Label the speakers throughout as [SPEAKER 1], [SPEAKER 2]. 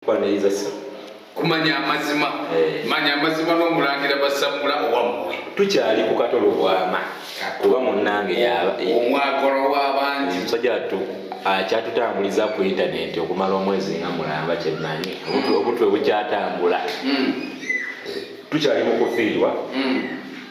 [SPEAKER 1] kwaniriza sa kumanya
[SPEAKER 2] amazima eh. manya amazima n'omulangira basamula owammwe tukyali ku katolo
[SPEAKER 1] bwama kuba munnange yaba eh, omwagolo
[SPEAKER 2] w'abangi musajja tu
[SPEAKER 1] akyatutambuliza ku intanenti okumala omwezi nga mulamba kyemanyi obutwe bukyatambula hmm. tukyali mu kufiirwa hmm.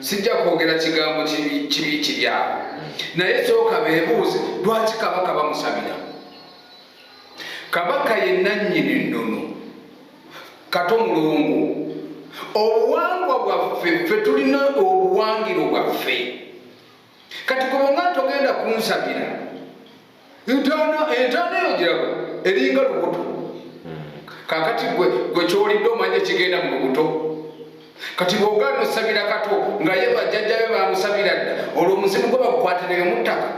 [SPEAKER 2] sijja kwogera kigambo kibi kiryabo naye sooka bebuuze lwaki kabaka bamusabira kabaka yenanyini nnono kato mulungu obuwangwa bwaffe ffe tulina obuwangiro bwaffe kati kubanga togenda kunsabira ntono entono eyo girago eringa lubuto kakati gwe gwe kyolidde omanya ekigenda mu lubuto kati bwogaana osabira kato nga ye bajjajjabe bamusabira dda olwo omuzimu gwe bagukwatira yomuttaka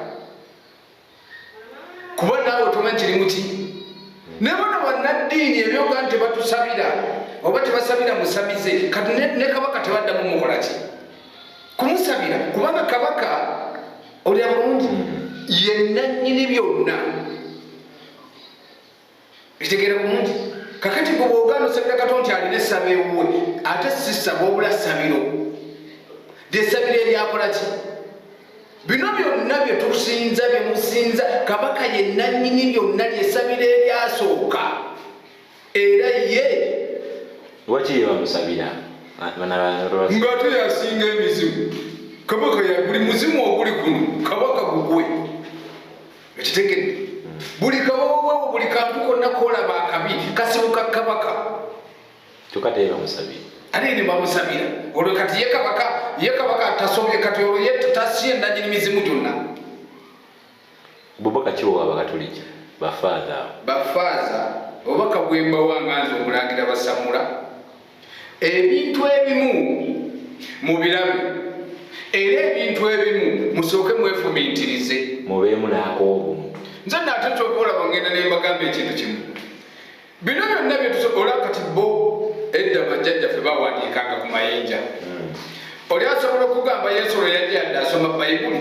[SPEAKER 2] kuba naawe tomanyi kiri muki ne bona bannaddiini ebyoga nti tebatusabira oba tebasabira musamize kati ne kabaka tebaddamu mukola ki kumusabira kubanga kabaka olya bulungi yennannyini byonna ekitegeera bulungi kakati gwe bwoganda osabira kato nti alina essaba ewuwe ate sisaba obula sabiro lyesabiro eryakola ki bino byonna byetusinza byemusinza kabaka yenanyini byonna lyesabiro eryasooka era ye
[SPEAKER 1] lwaki yebamusabira
[SPEAKER 2] ngaate yasinga emizimu kabaka yaguli muzimu oguli kuno kabaka gugwe ekitegedde buli kawowowo buli kantu konna kolaba akabi kasibuka kabaka kyoka
[SPEAKER 1] teyera musabira ate ne bamusabira
[SPEAKER 2] olwo kati ye kabaka ye kabaka tasobye kati olwo ye tasiye nanyini mizimu gyonna
[SPEAKER 1] bubaka kiwowa abakatuliki bafaaza bafaaza
[SPEAKER 2] obubaka bwembawanga nze omulangira basamula ebintu ebimu mu birabe era ebintu ebimu musooke mwefumiitirize mubeemu naako
[SPEAKER 1] obuntu nze naate
[SPEAKER 2] kyoka olaba ngenda nembagamba ekintu kimu bino byonna byetusobola kati bo edda bajjajjaffe bawandiikanga ku mayinja hmm. oli asobola okugamba yesu lwe yajjadde asoma bayibuli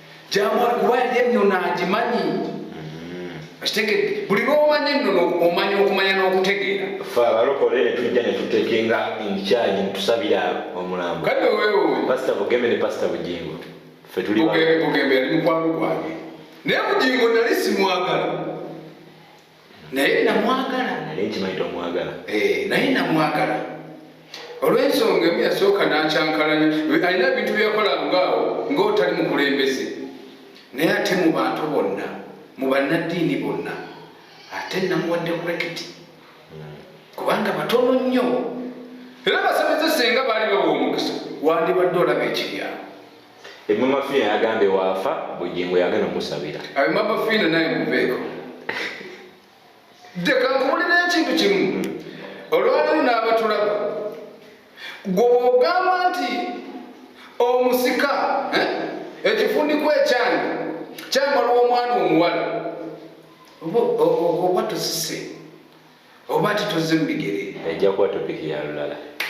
[SPEAKER 2] gyamwali kuba yali ennono agimanyi kitegede mm-hmm. buli lwomanya ennono omanya okumanya n'okutegeera fe abalokole
[SPEAKER 1] ne tujja ne tutekenga enkyali netusabira omulambo kati wewe
[SPEAKER 2] pasita bugembe ne pasita
[SPEAKER 1] bugingo fe tuli bugembe yali mukwano
[SPEAKER 2] gwange naye bugingo nali simwagala naye namwagala naye nkimanyi tomwagala
[SPEAKER 1] eh, naye
[SPEAKER 2] namwagala olwensonga emu yasooka nakyankalanya alina ebintu byeyakola ngaawo ngaotali mukulembeze naye ate mu bantu bonna mu bannaddiini bonna ate namuwadde kurekiti hmm. kubanga batono nnyo era basamize senga baali bawa omukisa wandibadde olaba ekiryawo Emama
[SPEAKER 1] Fina yagambye waafa Bugingo yagenda omusabira. Emama Fina naye
[SPEAKER 2] muveeko. Ddeka nkubulira ekintu kimu olwaliwo n'abatulaba gwe ogamba nti omusika eh, ekifundiko ekyange kyamala omwana omuwala oba tusise oba titoze mu bigere ejja kuba
[SPEAKER 1] topiki
[SPEAKER 2] yalulala